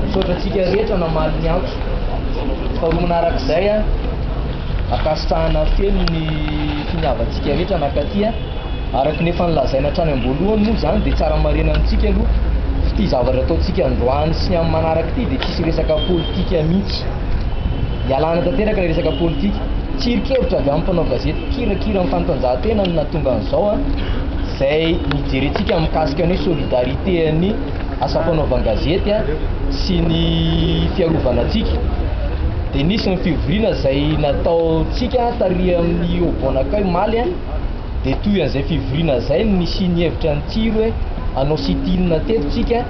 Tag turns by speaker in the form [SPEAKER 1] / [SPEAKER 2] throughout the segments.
[SPEAKER 1] Misaotra antsika rehetra namaly ny antso. Faharoa manarak'izay, ankasitrahana feno ny finiavantsika rehetra nakaty. Araka ny efa nolazaina hatrany am-boalohany moa izany dia tsara marihina amintsika aloha fa ity zavatra ataontsika androany sy ny amin'ny manaraka ity dia tsisy resaka politika mihitsy. Ialana tanteraka ilay resaka politika. Tsirinkevitra avy amin'ny mpanao gazety mpikirakira ny fanatanjahantena no nahatonga an'izao izay nijerentsika mikasika ny hoe solidarité an'ny asa fanaovan-gazety sy ny fiarovana antsika dia nisy ny fivoriana izay nataontsika tarihan'ny Obonakay omaly dia toy an'izay fivoriana izay no nisian'ny hevitra ny Tsiro hoe hanao sit-in teto tsika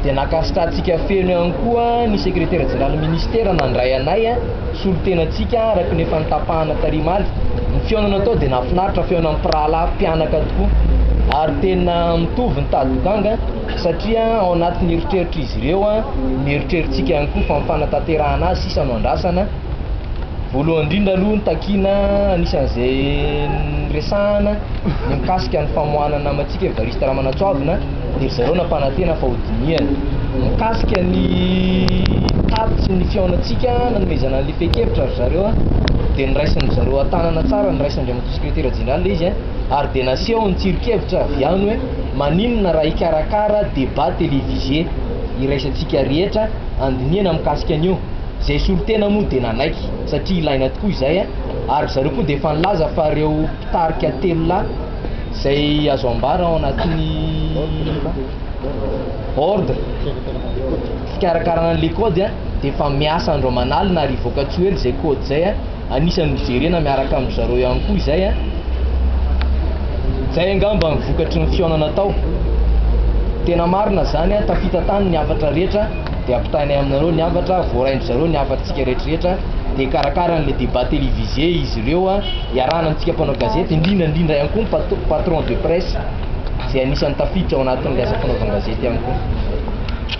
[SPEAKER 1] dia nankasitrahantsika feno ihany koa ny sekretera jeneralin'ny ministera nandray anay solontenantsika araka ny efa notapahana tary Maly. Ny fihaonana tao dia nahafinaritra, fihaonana mpirahalahy mpianaka tokoa ary tena mitovy ny tady ganga satria ao anatin'ny eritreritr'izy ireo ny eritreritsika ihany koa fa ny fanatanterahana azy sisa no andrasana. Voalohany indrindra aloha ny takiana anisan'izay niresahana ny mikasika ny famoahana ny namantsika Evariste Ramanantsoavina. dia ry zareo nampanantena fa hodinihana. Mikasika ny tatitry ny fihaonantsika nanomezana an'ilay fehin-kevitra ry zareo dia noraisin-dry zareo an-tanana tsara, noraisin-dRamatoa Sekretera Jeneraly ilay izy ary dia naseho ny tsiron-kevitra avy ihany hoe maninona raha hikarakara débat télévisé iraisantsika rehetra handinihana mikasika an'io? Izay solontena moa dia nanaiky satria ilaina tokoa izay ary ry zareo koa dia efa nilaza fa ireo mpitarika telo lahy izay azo ambara ao anatin'ny ordre fikarakarana an'ilay kaody a dia efa miasa andro aman'alina ary hivoaka tsy ho ela izay kaody izay a anisan'ny hojerena miaraka amin'ny zareo ihany koa izay a izay angamba ny vokatry ny fihaonana tao tena marina izany a tafita tany ny hafatra rehetra dia ampitainay aminareo ny hafatra, voarain-dry zareo ny hafatrtsika rehetrarehetra, dia karakara an'ilay débat télévisé izy ireo, iarahana amintsika mpanao gazety, indrindra indrindra ihany koa ny patron de presse izay anisan'ny tafiditra ao anatin'ilay asa fanaovan-gazety ihany koa.